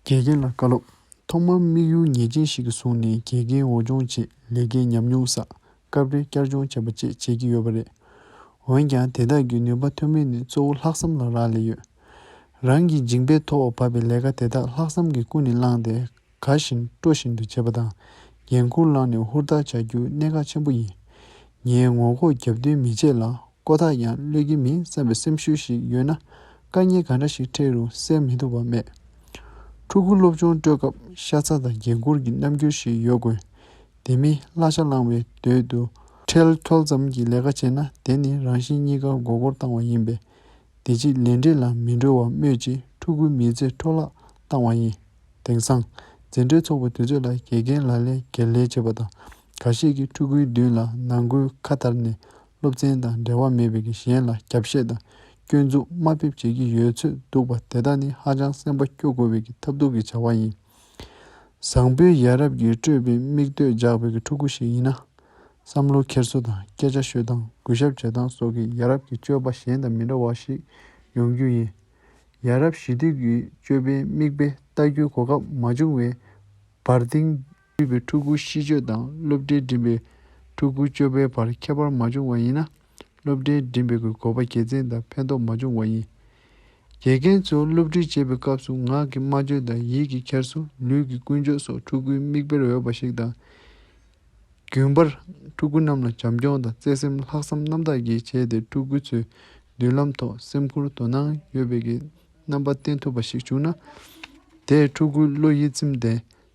དགེ་རྒན་ལ་བཀའ་སློབ། ཐོག་མར་དམིགས་ཡུལ་ངེས་ཅན་ཞིག་བཟུང་ནས་དགེ་རྒན་འོས་སྦྱོང་ཆེད་ལས་ཀའི་ཉམས་མྱོང་བསགས། སྐབས་རེ་བསྐྱར་སྦྱོང་བྱེད་པ་བཅས་བྱེད་ཀྱི་ཡོད་པ་རེད། འོན་ཀྱང་དེ་དག་གི་ནུས་པ་ཐོན་མིན་ནི་གཙོ་བོ་ལྷག་བསམ་ལ་རག་ལས་ཡོད། རང་གིས་འཇིགས་པས་ཐོག་བབས་པའི་ལས་ཀ་དེ་དག་ལྷག་བསམ་གྱིས་ཀུན་ནས་བསླངས་ཏེ། ག་བཞིན་སྤྲོ་བཞིན་དུ་བྱེད་པ་དང་འགན་ཁུར་བླངས་ནས་ཧུར་ཐག་བྱ་རྒྱུ་གནད་འགག་ཆེན་པོ་ཡིན། ངས་ངོ་ལྐོག་རྒྱབ་མདུན་མི་བྱེད་ལ་ཀོ་ཐག་ཡང་གློད་ཀྱི་མིན་བསམ་པའི་སེམས་ཤུགས་ཤིག་ཡོད་ན་དཀའ་ངལ་ག་འདྲ་ཞིག་འཕྲད་རུང་སེལ་མི་ཐུབ་པ་མེད། ཕྲུ་གུ་སློབ་ཆུང་སྤྲོད་སྐབས་ཤ་ཚ་དང་འགན་ཁུར་གྱི་རྣམ་འགྱུར་ཞིག་ཡོད་དགོས། དེ་མིན་གླ་ཆ་བླངས་བའི་དོད་དུ། ཁྲེལ་འཁྱོལ་ཙམ་གྱི་ལས་ཀ་བྱས་ན་དེ་ནི་རང་བཞིན་གཉིས་ཀ་མགོ་སྐོར་བཏང་བ་ཡིན་པས། བདེ་སྐྱིད་ལས་འབྲས་ལ་མི་འགྲོ་བ་སྨོས་ཅི་ཕྲུ་གུའི་མི་ཚེ་འཕྲོ་བརླག་བཏང་བ་ཡིན། དེང་སང། འཛིན་གྲྭའི་ཚོགས་པ་དུས་ཚོད་ལ་དགེ་རྒན་ལ་ལས་སྒེར་ལས་བྱེད་པ་དང། ག་ཤེད་ཀྱིས་ཕྲུ་གུའི་མདུན་ལ་ནང་སྒོའི་ཁ་བསྟར་ནས་སློབ་ཚན་དང་འབྲེལ་བ་མེད་པའི་གཞན་ལ་རྒྱབ་བཤད་དང་སྐྱོན་འཛུགས་དམའ་འབེབས་བྱེད་ཀྱི་ཡོད་ཚོད་འདུག་པ་དེ་དག་ནི་ཧ་ཅང་སེམས་པ་སྐྱོ་དགོས་པའི་ཐབས་སྡུག་གི་བྱ་བ་ཡིན། བཟང་པོའི་ཡ་རབས་ཀྱི་སྤྲོས་པའི་མིག་ལྟོས་འཇགས་པའི་ཕྲུ་གུ་ཞིག་ཡིན་ན། བསམ་བློ་འཁྱེར་སོ་དང་སྐད་ཆ་ཤོད་སྟངས་གུས་ཞབས་བྱེད་སྟངས་སོགས་ཀྱིས་ཡ་རབས་ཀྱི་སྤྱོད་པ་གཞན་དང་མི་འདྲ་བ་ཞིག་ཡོང་རྒྱུ་ཡིན། ཡ་རབས་ཞི་དུལ་གྱི་སྤྱོད་པའི་མིག་དཔེ་ལྟ་རྒྱུའི་གོ་སྐབས་མ་བྱུང་བའི་བར་དེང་དུས་པའི་ཕྲུ་གུ་གཤིས་སྤྱོད་དང་སློབ་གྲྭའི་འགྲིམ་པའི་ཕྲུ་གུའི་སྤྱོད་པའི་བར་ཁྱད་པར་མ་བྱུང་བ་ཡིན་ན། སློབ་གྲྭའི་འགྲིམ་པའི་གོ་བ་དགེ་མཚན་དང་ཕན་ཐོགས་མ་བྱུང་བ་ཡིན། དགེ་རྒན་ཚོས་སློབ་ཁྲིད་བྱེད་པའི་སྐབས་སུ་ངག་གི་སྨྲ་བརྗོད་དང་ཡིད་ཀྱི་འཁྱེར་སོ་ལུས་ཀྱི་ཀུན་སྤྱོད་སོགས་ཕྲུ་གུའི་མིག་དཔེར་འོས་པ་ཞིག་དང། རྒྱུན་པར་ཕྲུ་གུ་རྣམས་ལ་བྱམས་སྐྱོང་དང་བརྩེ་སེམས་ལྷག་བསམ་རྣམ་དག་གིས་བྱས་ཏེ་ཕྲུ་གུ་ཚོའི་མདུན་ལམ་ཐོག་སེམས་ཁུར་དོ་སྣང་ཡོད་པའི་གི་རྣམ་པ་བསྟན་ཐུབ་པ་ཞིག་བྱུང་ན། དེས་ཕྲུ་གུའི་བློ་ཡིད་ཚིམ་སྟེ་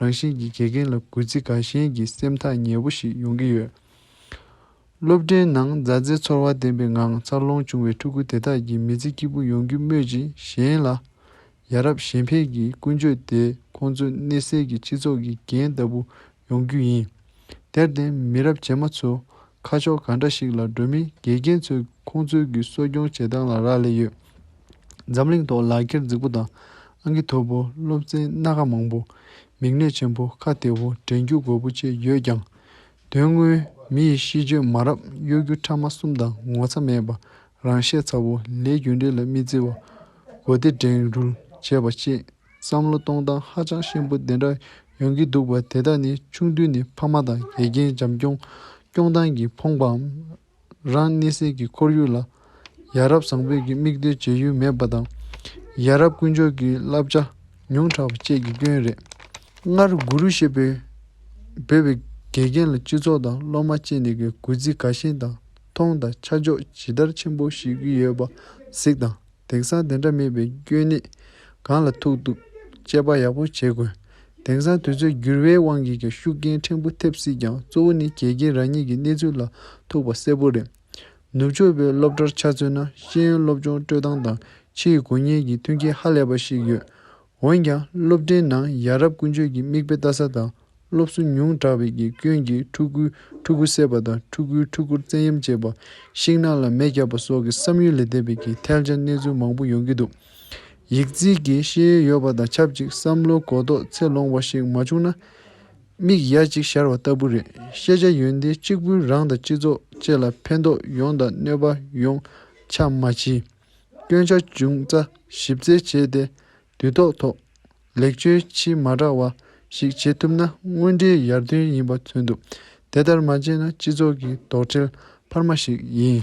རང་བཞིན་གྱིས་དགེ་རྒན་ལ་གུས་བརྩི་དགའ་ཞེན་གྱི་སེམས་ཐག་ཉེ་བོ་ཞིག་ཡོང་གི་ཡོད། སློབ་གྲྭའི་ནང་མཛའ་བརྩེའི་ཚོར་བ་ལྡན་པའི་ངང་འཚར་ལོངས་བྱུང་བའི་ཕྲུ་གུ་དེ་དག་གིས་མི་ཚེ་སྐྱིད་པོ་ཡོང་རྒྱུ་སྨོས་ཅི་གཞན་ལ། ཡ་རབས་གཞན་ཕན་གྱི་ཀུན་སྤྱོད་དེ་ཁོང་ཚོའི་གནས་སའི་གི་སྤྱི་ཚོགས་ཀྱི་རྒྱན་ལྟ་བུ་ཡོང་རྒྱུ་ཡིན། དེར་བརྟེན་མི་རབས་རྗེས་མ་ཚོས་ཁ་ཕྱོགས་ག་འདྲ་ཞིག་ལ་འགྲོ་མིན་དགེ་རྒན་ཚོས་ཁོང་ཚོའི་གི་གསོ་སྐྱོང་བྱེད་སྟངས་ལ་རག་ལས་ཡོད། འཛམ་གླིང་ཐོག་ལག་འཁྱེར་རྫིག་པོ་དང་ཨང་ཀི་མཐོ་པོ་སློབ་ཚན་སྣ་ཁ་མང་པོ། མིག་ནད་ཆེན་པོ་ཁ་བདེ་བོ་དྲན་རྒྱུ་རྒོད་པོ་བཅས་ཡོད་ཀྱང། དོན་དངོས་མི་ཡི་གཤིས་སྤྱོད་མ་རབས་གཡོ་སྒྱུ་ཕྲ་མ་གསུམ་དང་ངོ་ཚ་མེད་པ་རང་བཤད་ཚ་བོ་ལས་རྒྱུ་འབྲས་ལ་མི་བརྩི་བ། གོ་བདེ་བསྒྲེངས་རུལ་བྱས་པ་བཅས་བསམ་བློ་གཏོང་སྟངས་ཧ་ཅང་ཤན་པོ་དེ་འདྲ་ཡོང་གི་འདུག་པ་དེ་དག་ནི་ཆུང་དུས་ནས་ཕ་མ་དང་དགེ་རྒན་བྱམས་སྐྱོང་སྐྱོང་སྟངས་ཀྱིས་ཕོངས་པའམ། རང་གནས་སའི་གི་ཁོར་ཡུག་ལ་ཡ་རབས་བཟང་པོས་ཀྱི་མིག་ལྟོས་བྱེད་ཡུལ་མེད་པ་དང། ཡ་རབས་དཀོན་མཆོག་གི་བསླབ་བྱ་ཉུང་དྲགས་པ་བཅས་ཀྱི་སྐྱོན་རེད། སྔར་གུ་རུ་ཞེས་པའི་འབོད་པའི་དགེ་རྒན་ལ་སྤྱི་ཚོགས་དང་སློབ་མ་བཅས་ནས་གི་གུས་བརྩི་དགའ་ཞེན་དང། མཐོང་དང་ཆ་འཇོག་ཇི་ལྟར་ཆེན་པོ་ཞིག་གི་ཡོད་པ་གཟིགས་དང་དེང་སང་དེ་འདྲ་མེད་པའི་སྐྱོན་གནད་གང་ལ་ཐུག་འདུག་དཔྱད་པ་ཡག་པོ་བྱེད་དགོས། དེང་སང་དུས་ཚོད་འགྱུར་བའི་དབང་གིས་ཀྱང་ཤུགས་རྐྱེན་ཕྲན་བུ་ཐེབས་སྲིད་ཀྱང་གཙོ་བོ་ནི་གལ་རྐྱེན་རང་ཉིད་ཀྱི་གནས་ཚུལ་ལ་ཐུག་པ་གསལ་པོ་རེད། ནུབ་ཕྱོགས་པའི་སློབ་གྲྭར་ཆ་མཚོན་ན་ཤེས་ཡོན་སློབ་སྦྱོང་སྤྲོད་སྟངས་དང་ཕྱིའི་དགོས་ངེས་ཀྱི་མཐུན་རྐྱེན་ཧ་ལས་པ་ཞིག་ཡོད། འོན་ཀྱང་སློབ་གྲྭའི་ནང་ཡ་རབས་ཀུན་སྤྱོད་ཀྱི་མིག་དཔེ་ལྟ་ས་དང་སློབ་གསོ་ཉུང་དྲགས་པའི་གི་སྐྱོན་གྱིས་ཕྲུ་གུའི་ཕྲུ་གུ་བསད་པ་དང་ཕྲུ་གུའི་ཕྲུ་གུར་བཙན་གཡེམ་བྱེད་པ། ཤིང་ནགས་ལ་མེ་བརྒྱབ་པ་སོགས་ཀྱི་བསམ་ཡུལ་ལས་འདས་པའི་གི་ཐལ་ཆ་གནས་ཚུལ་མང་པོ་ཡོང་གི་འདུག་ཡིག་རྩིས་ཀྱི་ཤེས་ཡོན་ཡོད་པ་དང་ཆབས་ཅིག་བསམ་བློའི་གོ་རྟོགས་ཚད་ལོངས་པ་ཞིག་མ་བྱུང་ན། མིག་ཡ་གཅིག་ཤར་བ་ལྟ་བུ་རེད་ཤེས་བྱ་ཡོན་ཏན་གཅིག་པུས་རང་དང་སྤྱི་ཚོགས་བཅས་ལ་ཕན་ཐོགས་ཡོང་དང་གནོད་པ་ཡོང་ཆ་མ་མཆིས། སྐྱོན་ཆ་ཅུང་རྩ་ཞིབ་རྩད་བྱས་ཏེ་དུས་ཐོག་ཐོག་ལེགས་བཅོས་ཆེས་མ་དྲག་བ་ཞིག་བྱེད་ཐུབ་ན་དངོས་འབྲེལ་ཡར་ཐོན་ཡིན་པ་མཚོན་ཐུབ། དེ་ལྟར་མ་བྱས་ན་སྤྱི་ཚོགས་ཀྱི་དོགས་འདྲིལ་འཕར་མ་ཞིག་ཡིན།